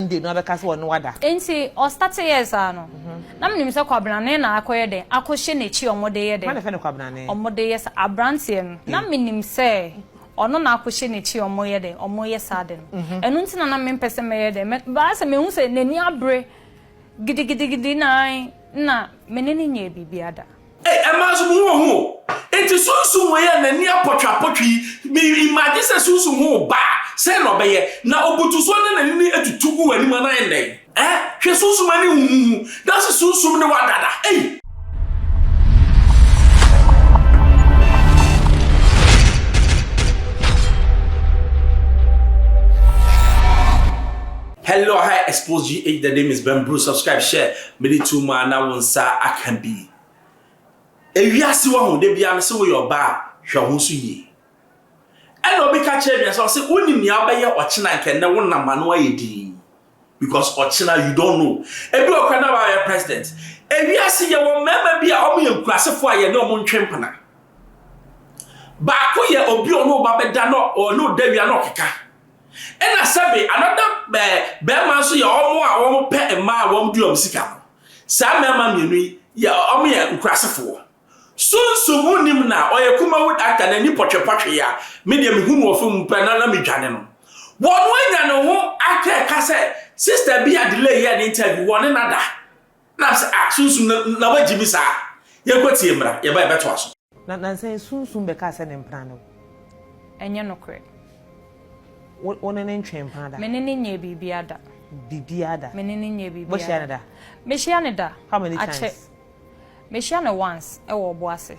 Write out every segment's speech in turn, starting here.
one day no abɛka sɛ ɔne wada. Enti ɔ starte yɛɛ saa no na menim sɛ Kwabenane na akɔyɛ dɛn akɔ hyɛ nakyi ɔmo de yɛ Hwan na dɛn ɛfrɛ no Kwabenane? ɔmo de yɛ saa abranteɛ no na menim sɛ ɔno na akɔ hyɛ nakyi ɔmo yɛ dɛn ɔmo yɛ saa ade no ɛno nti na na me mpɛ sɛ mɛyɛ dɛn mɛ baa sɛ mehu sɛ nani abere gidigidigidi na ae na mene no nyɛɛ biribia da. Ei, ɛmaa nso mo ho ɔho o. Enti sunsum wei a n'ani apɔtweapɔtwe yi, me imagine sɛ sunsum ho ba a, sɛn na ɔbɛyɛ? Na ɔbutu so na n'ani no atutu gu w'anim a, na ayɛ dɛn? Ɛ? Hwɛ sunsum ani huhuhu. Na se sunsum ne wo dada. Ei! Hello, hi, Expose GH. The name is Ben Bruce. Subscribe, share. Mede too mu a na wo nsa aka bi. Ewiase wahu da biara no se woyɛ ɔbaa a hwɛ wo ho so yie. Ɛna obi ka kyerɛ me sɛ ɔse wonim nea wobɛyɛ ɔkyena nka ɛnɛ wo nam ano ayɛ dinn because ɔkyena you don't know ebi wɔ kora na wayɛ president. Ewiase yɛwɔ mmarima bi a wɔyɛ nkurasefo a yɛne wɔn ntwe mpena. Baako yɛ obi a ɔne wo ba bɛda na ɔne wo da wia na ɔkeka. Ɛna sɛbe another eh, bɛɛma nso yɛ ɔmo a ɔmo pɛ mmaa a ɔmo di ɔmo sika no. Saa mmɛɛma mmienu yi yɛ ɔmo yɛ nkurasefoɔ. Sunsum ho nim na ɔyɛ kumawu actor na ani pɔtwe pɔtwe yi a me deɛ me hu no wɔ film mu pɛ na na me dwane no. Wɔn anya ne ho actor ɛka sɛ sister bi a delay yɛɛ ne interview wɔne no ada. Nam sɛ, ah, Sunsum no na wagye me saa. Yɛnkɔtie mmra, yɛba a yɛbɛtoa so. Na nansa yi Sunsum bɛkaa sɛ ne mpena ne wo. Ɛnyɛ nokorɛ. Wo, wo ne no ntwee mpena da? Me ne no nyɛɛ biribiara da. Biribiara da? Me ne no nyɛɛ biribiara da. Mohyia no da? Mehyia no da. How many times? Akyɛ, mehyia no once ɛwɔ Ɔboase.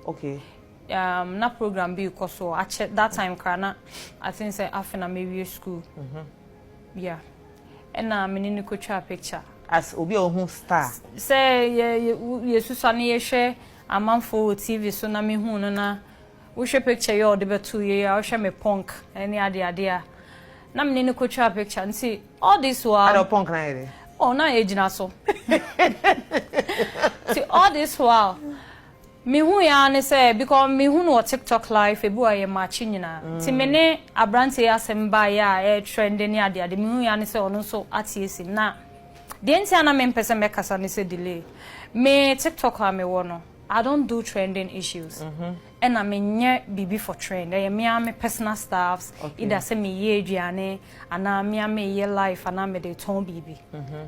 Okay. Um, na program bi rekɔ so, akyɛ, that time koraa na, I think sɛ afe na mawie school. Mhm. Yeah. Ɛna me ne no kɔtwaa picture. As obi a ɔhu star. Sɛ yɛ yɛ susua no yɛ hwɛ amanfoɔ wɔ TV so na me huu no na wo hwɛ picture yɛ ɔde bɛtoo yɛ a wo hwɛ me punk ɛne ade ade a na me ne no kɔtwaa picture nti all this while. Ada punk na yɛ de. Oh na yɛ gyina so. Ti all this while. Me hui ara ne sɛ because me hu no wɔ tiktok live ebi wɔ ha yɛ match nyina nti me ne abranteɛ yi asɛm baeɛ a ɛyɛ trend ne ade ade me hui ara ne sɛ ɔno nso ateɛ sim na deɛ nti a na me mpɛ sɛ mɛ kasa ne sɛ delay me tiktok a me wɔ no I don't do trending issues ɛna me nyɛ biribi for trend ɛyɛ me ara me personal stuffs either sɛ me yɛ aduane anaa me ara me yɛ live anaa me de tɔn biribi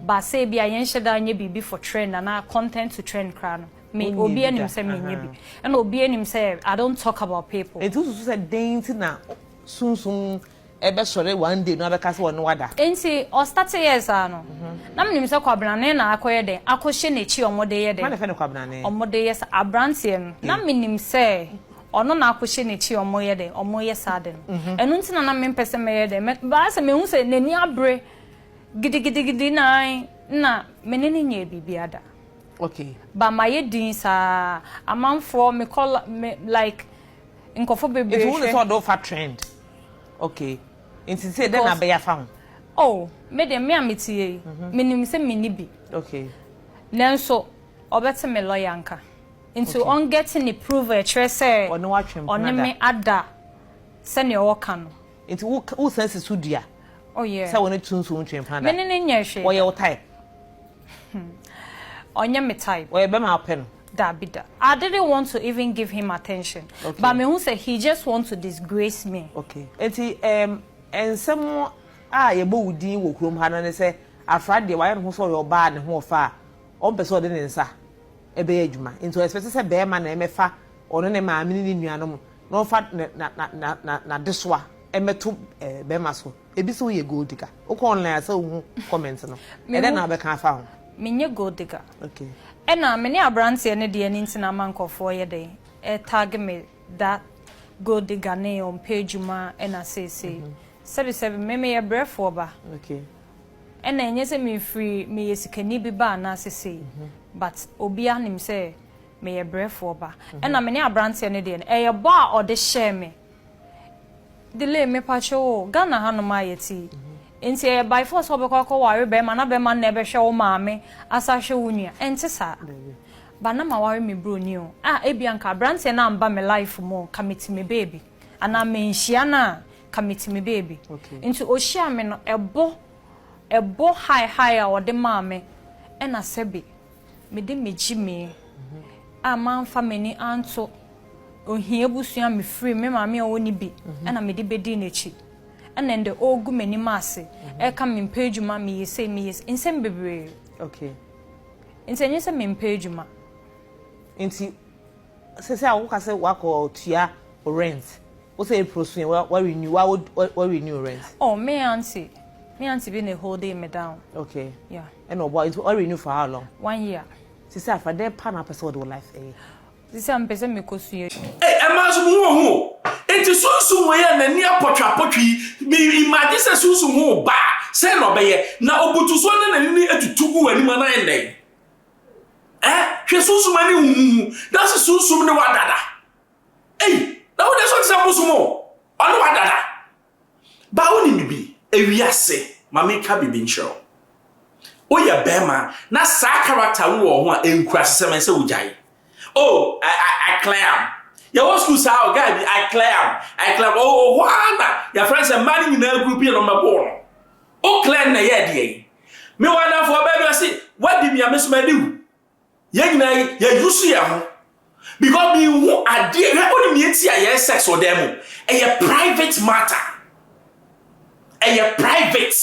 but sɛ ebi a yɛn hyɛ da nyɛ biribi for trend anaa content to trend koraa no. Me obi anim sɛ me nyɛ bi. Ɛna obi anim sɛ I don't talk about people. Eti wosusu sɛ den ti na sunsum ɛbɛsɔre one day na wabɛka sɛ ɔne wada. Enti ɔstate yɛɛ saa no na menim sɛ kwabenane na akɔyɛ dɛn akɔhyɛ n'akyi ɔmo de yɛ dɛn. Hwan na ɛfrɛ no kwabenane? Ɔmo de yɛ saa abranteɛ no na menim sɛ ɔno na akɔhyɛ n'akyi ɔmo yɛ dɛn ɔmo yɛ saa ade no ɛno nti na na mempɛ sɛ mɛyɛ dɛn mɛ baa sɛ mehu sɛ n'ani abere gidigidigidi nan na me ne no nyɛɛ biribi ada. Okay. Ba mayɛ din saa. Amanfoɔ me kɔ me like nkɔfo bebree hwɛ. Nti wo ne sɛ ɔde wo fa trend. Okay. Nti sɛ dɛ na bɛyɛ afa ho. Oh me deɛ me a me te yɛ yi me nim sɛ me ni bi. Okay. Nanso ɔbɛte me lawyer nka. Nti ɔn get ne prove a ɛkyerɛ sɛ ɔne me ada sɛnea ɔɔka no. Nti wo san si so dua sɛ wo ne Tunso ntwe mpena da. Me ne no nyɛ hwee da. Ɔyɛ wo type. Hmm. Ɔnyɛ me type. Ɔyɛ bɛma a ɔpɛ no. Dabi da. I didn't want to even give him attention. Okay. But me hu sɛ he just want to disgrace me. Okay. Eti um, nsɛm a yɛbɔ wo din wɔ kurom ha no ne sɛ afra deɛ wayɛ ne ho sɛ ɔyɛ ɔbaa ne ho ɔfa a ɔmpɛ sɛ ɔde ne nsa ɛbɛyɛ adwuma. Nti ɔɛspɛte sɛ bɛɛma na ɛmɛfa ɔno ne maame ne ne nuanom na ɔmfa n'adesoa ɛmɛto bɛɛma so. Ebi sɛ woyɛ gold digger. Wokɔ online a sɛ wohu comment no, ɛdɛn na wobɛka afa ho? Menyɛ gold digger. Okay. Ɛna me ne aberanteɛ no deɛ no nti na ama nkurɔfoɔ yɛ dɛn? Ɛretag me da gold digger ne ɔmpɛ adwuma ɛna seesei. Sɛbi sɛbi, me meyɛ brɛfoɔ ba. Okay. Ɛna ɛnyɛ sɛ mefiri meyɛ sikani bi ba anaa sesei but obiara nim sɛ meyɛ brɛfoɔ ba. Ɛna me ne aberanteɛ no deɛ no ɛyɛ bɔ a ɔde hyɛɛ me. Delay mepakyɛ oo Ghana ha nom ayɛ tii nti ɛyɛ by force sɛ wobɛkɔ akɔ ware bɛɛma na bɛɛma no na ɛbɛhwɛ wo maame asa hwɛ wo nua ɛnte saa ba na ma ware me broni oo a ebia nka abranteɛ no amba me life mu oo ka me ti me baabi anaa menhyia no a ka me ti me baabi nti ohyia me no ɛbo ɛbo high high a ɔde maa me ɛna sɛbi mede me gyimii a mamfa m'ani anto ohia abusua mefiri me maame a ɔwɔ ne bi ɛna mede bɛdii n'akyi ɛna ndɛ ɔregu m'anim ase ɛka mempɛ adwuma meyɛ sei meyɛ sei nsɛm bebree okay nti ɛnyɛ sɛ mempɛ adwuma nti Sɛsɛ a wo ka sɛ wakɔ tua wo rent wo sɛ April so yɛ wa renew wa wa renew wo rent. Oh me aunty me aunty bi na e holding me down. Okay yeah ɛna ɔboa nti wa renew for how long. One year. Sɛsɛ afra dɛn pa na wopɛ sɛ wɔde wo life ɛyɛ. Sɛsɛ a mepɛ sɛ mekɔ sua adwuma. Ei ɛmaa nso me ho ɔhu o enti sunsum wei a n'ani apɔtwapɔtwe yi me imagine sɛ sunsum ho ba a sɛn na ɔbɛyɛ na ɔbutu so na n'ani no atutu gu w'anim a na ayɛ dɛn Eh, hwɛ sunsum ani huhuhu, dase sunsum ne wa dada. Ei, na wo deɛ so ɔtena bosom o, ɔne wa dada. Ba wo nim bibi, ewiase, ma me ka bibi nkyerɛ wo. Wo yɛ bɛrima, na saa character wo wɔ ho a, enkura se sɛ mɛ sɛ wo gyae. Oh, I, I, I clam. Yɛ wɔ school saa o, guy bi, I clam, I clam. Oh, oh, hɔ ara na, yɛ frɛ sɛ mmaa ne nyinaa group yɛ no mɛbo no. O clam na yɛ deɛ yi. Me wɔ adamfoɔ baa bi ɔse wadi me a me so madi wo. Yɛn nyinaa yi yɛ use yɛn ho because me nhu adeɛ hwɛ onim nea eti a yɛyɛ sex wɔ dan mu ɛyɛ private matter ɛyɛ private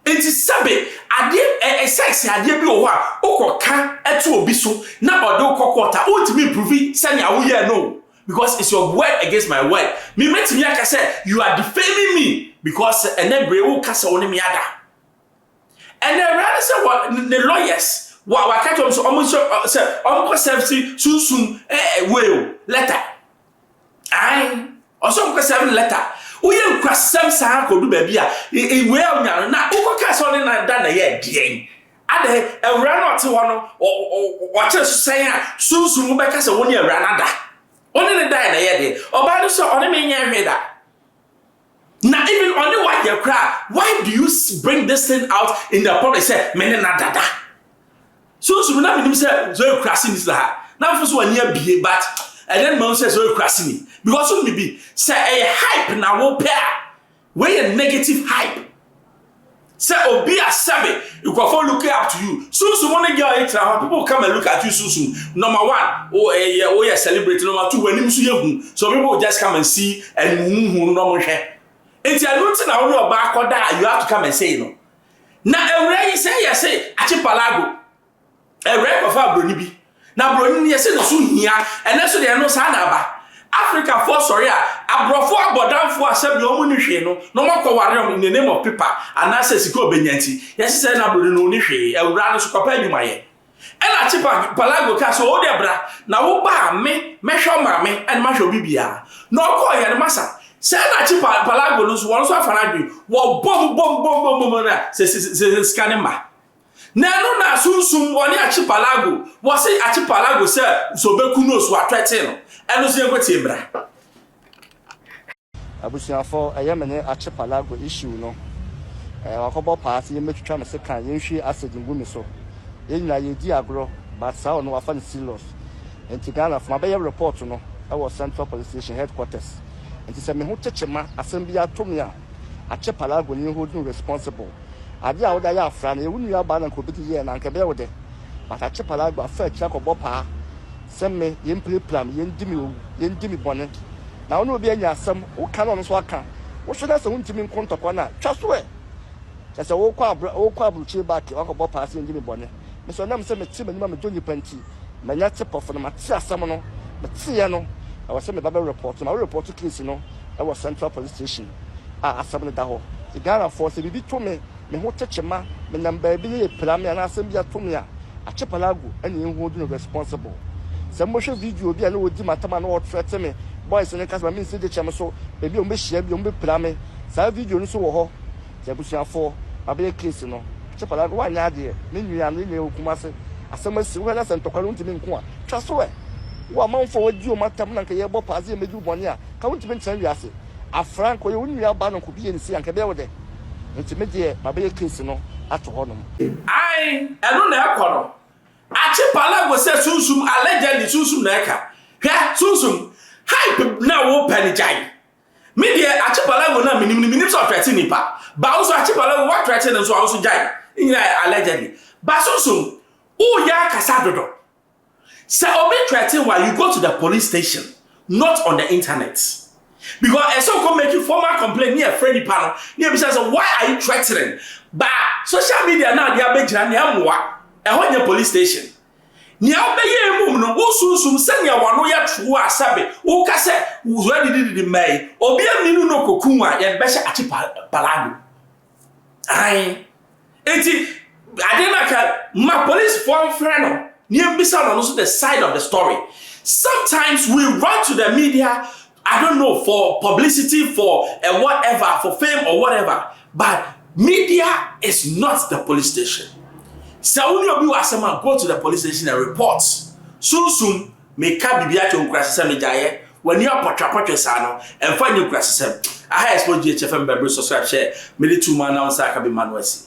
nti sɛbe adeɛ ɛɛ sex adeɛ bi wɔ hɔ a okɔ ka ɛto obi so na ɔde okɔ kɔɔta ontumi mprovi sɛnea woyɛ no Because it's your word against my word. Me metumi aka sɛ you are defaming me because ɛnɛ bere wo ka sɛ wo ne me ada. Ɛnɛ awura ne sɛ wɔ ne lawyers wɔ waka kyerɛ wɔn sɛ wɔn nso ɔ- sɛ wɔn kɔ sɛmsi sunsum ɛɛ wei o letter. Ae ɔsɛ wɔn kɔ sɛm letter. Woyɛ nkwasɛm saa kɔdu baabi a e- e- wei a wonya no na wokɔ kaa sɛ ɔne na da na ɛyɛ deɛn. Adɛn, Awuraa no a ɔte hɔ no, ɔkyere so sɛn a, sunsum no bɛka sɛ, Wo ne Awuraa no ada. Wo ne no dae na ɛyɛ deɛ. Ɔbaa no sɛ, Ɔne me nyɛɛ hwee da. Na even ɔne wo ayɛ koraa, why do you bring this thing out in the public sɛ me ne no ada da? Sunsum na menim sɛ Zoe kura sini sɛ ha. Na mfo so ani abie but ɛnɛ no mahu sɛ Zoe kura sini. Because wo ne bi, sɛ ɛyɛ hype na wopɛ a, Wei yɛ negative hype sɛ obi a sɛbe nkurɔfoɔ look up to you sunsum wo ne girl yi tra hɔ people come and look at you sunsum number one wo ɛyɛ eh, woyɛ celebrate number two w'anim so yɛ hu so people just come and see and huhu no ɔmo hwɛ nti ɛno nti na wo ne ɔbaa kɔda you have to come and say no na awura yi sɛ yɛ se akyepalago Ɛwɛn kɔfaa Buroni bi, na Buroni no yɛsɛ ne so hia. Ɛnɛ nso deɛ ɛno saa na aba. Africafoɔ sɔre a, aborɔfoɔ abɔdamfoɔ a sɛbi wɔn ni hwee no, na wɔn akɔ ware wɔn in the name of paper anaasɛ sika a ɔbɛnya nti. Yɛse sɛɛ na Buroni no ɔni hwee, awuraa no nso kwapɛ adwuma yɛ. Ɛna Chipa Palago kaa sɛ, Odeɛ bra, na wo ba a me mɛhwɛ wo maame ɛne mahwɛ wo bibiaa. Na ɔkɔɔ yɛ no masa. Sɛɛ na Chipa Palago no nso wɔn nso afa no adwene, wɔbom bom bom bom bom na sɛ sɛ sɛ sɛ sika ne mma. Na ɛno na sunsum ɔne akyipalago wɔse akyipalago sɛ sɛ ɔbɛku no so atwɛte no ɛno nso yɛnkɔtie mmra. Abusuafo ɛyɛ me ne akyipalago issue no ɛɛ wakɔbɔ paa se yɛmmɛtwitwa no sekan yɛnhwie acid ngu ne so yɛn nyinaa yɛredi agorɔ but saa ɔno wafa no serious nti Ghanafo mabɛyɛ report no ɛwɔ central police station headquarters nti sɛ me ho kyekye ma asɛm biara to me a akyipalago ne hold no responsible. Ade a wode ayɛ afra no, ɛyɛ wo nua baa na anka obedi yie anaa? Anka ɛbɛyɛ wo dɛ? Matakye palagua afa akyiri akɔbɔ paa sɛ me, yɛmpirapira me, yɛndi me owu, yɛndi me bɔne. Na wo ne obi anya asɛm, woka na ɔno nso aka. Wohwɛ na sɛ wontumi nko ntɔkwa no a, twa so ɛ! Kyerɛ sɛ worekɔ aburokyire baake, woakɔbɔ paa sɛ yɛndi me bɔne. Me nso, ɛnam sɛ mete m'anim a medɔ nnipa nti, Manya te pɔfo no, mate asɛm no, meteeɛ no, ɛwɔ sɛ meba bɛ report no, ma wo report case no wɔ central police station a asɛm no da hɔ. Nti Ghanafoɔ sɛ biribi to me, me ho te kyema, me nam baabi na yɛpira me anaa asɛm bi ato me a, Acheapallago na yɛ hold no responsible. Sɛ mobɛhwɛ video bi a na ɔdi m'atam a na ɔretrɛte me, boys no nka sɛ ma mensi gyekyɛm so, baabi a wɔbɛhyia biara wɔbɛpira me, saa video no nso wɔ hɔ. Sɛ abusuafoɔ abɛyɛ case no kyɛ kwadaa no wanyɛ adeɛ, ne nua no, ne nua wɔ Kumase, asɛm asi, wohwɛ na sɛ ntɔkwa no wontumi nko a, twa so ɛ? Wo amanfoɔ a wɔadi wɔn atam na anka yɛrebɔ paa sɛ yɛmmɛdi wo bɔne a, ka wontumi ntena wiase? Afra, anka ɔyɛ wo nua ba no nko bi yɛ no sei a, anka ɛbɛyɛ wo dɛ? Enti me deɛ mabɛyɛ case no ato hɔnom. Ae, ɛno na ɛkɔ no. Archipelago sɛ sunsum, allegedly sunsum na ɛka. Hwɛ, sunsum, hype na wopɛ no gyae. Me deɛ Achipalago na menim no menim sɛ ɔtrɛte nipa ba wo so Achipalago woatrɛte no nso a wo so gyae ne nyina yɛ allegedly ba sonsom woyɛ akasa dodo sɛ obi trɛte wa you go to the police station not on the internet because ɛsɛ ɔkɔ make formal complaint ne ɛfrɛ nipa no ne ɛbisa sɛ why are you threatening ba social media na adeɛ abɛgyina ne ɛmmoa ɛhɔ nyɛ police station Nea wobɛyɛ mmom no, wosunsum sɛnea w'ano yɛ too a sɛbe woka sɛ wosua didididi mma yi, obi anni no na okoku wo a, yɛde bɛhyɛ akye palado. Ae. Enti, ade na ka ma policefoɔ mfrɛ no na yɛmmisa no no nso the side of the story. Sometimes we run to the media I don't know for publicity for a whatever for fame or whatever but media is not the police station sɛ wo ne obi wɔ asɛm a go to the police station and report sunsum meka biribi akyɛ nkurasesɛm megyaeɛ w'ani apɔtwapɔtwe saa no ɛmfa nyɛ nkurasesɛm aha expose gye kyɛfɛ mbɛbre subscribe hyɛ mede tu ma announcer aka bi ma no asi